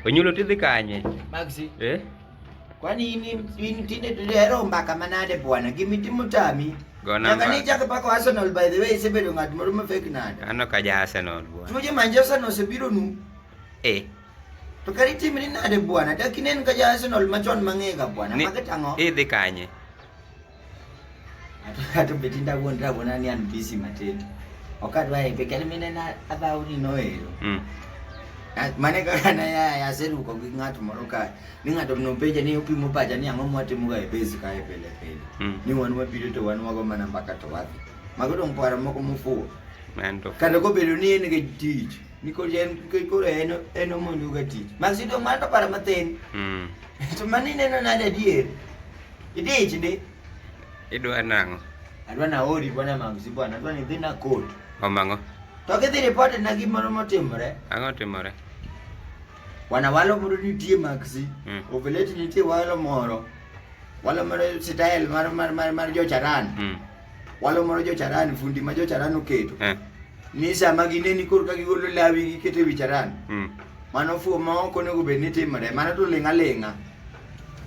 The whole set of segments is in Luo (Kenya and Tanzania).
Onyulo tidhi kanye? Maxi. Eh? Kwani ini ini tinde tulero mbaka manade bwana. Gimi timu tami. Gona mbaka. Nyaka ni chaka pako Arsenal by the way isebedo ng'at moro ma fake nade. Ano ka ja Arsenal bwana. Tuje Manchester no sebiro nu. Eh. To kari timu ni nade bwana. Dakinen ka ja Arsenal machon mang'ega bwana. Mage tango. Idhi kanye? atobetinda kuondira bona ni anhu bisi matete wakati waipekele mine na athauri noero mm. mane kakana ya yaseruka kwing'ato moro kae ning'ato mnopeja ni upimo pacha ni ang'o mwatimuka e base kae pele pele mm. ni wan wabiro to wan wago mana mbaka to wadhi mago dong' paro moko mofuwo kata kobedo ni en kech tich nikech en kech koro en en omonjoga tich maksi dong' mana to paro mathin mm. to mano ineno nade adier Idich ndi. Idwa nang'o? Adwa na ori bwana mamsi bwana, adwa ni dhi na court. Omang'o? To kidhi report na gimoro motimore. Ang'o timore? Bwana walo moro nitie maxi. Mm. Oveleti nitie walo moro. Walo moro style mar mar mar, mar jocharan. Mm. Walo moro jocharan fundi ma jocharan oketo. Eh. Ni sama gineni kor ka gigolo lawi gikete wicharan. Mm. Mano fuo ma ok onego bed ni timore. Mano to ling'a ling'a.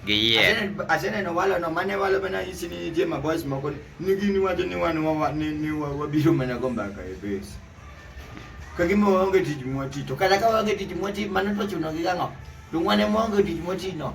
Giyier. Aseneno walono mane walo mana isi ni nitie maboys moko ni gini wacho ni wan wawa- ni ni wa- wabiro mana go mbaka e base. Ka gima waonge tich mwati to kata ka waonge tich mwati mano to chuno gi gang'o? To wane mwaonge tich mwati no.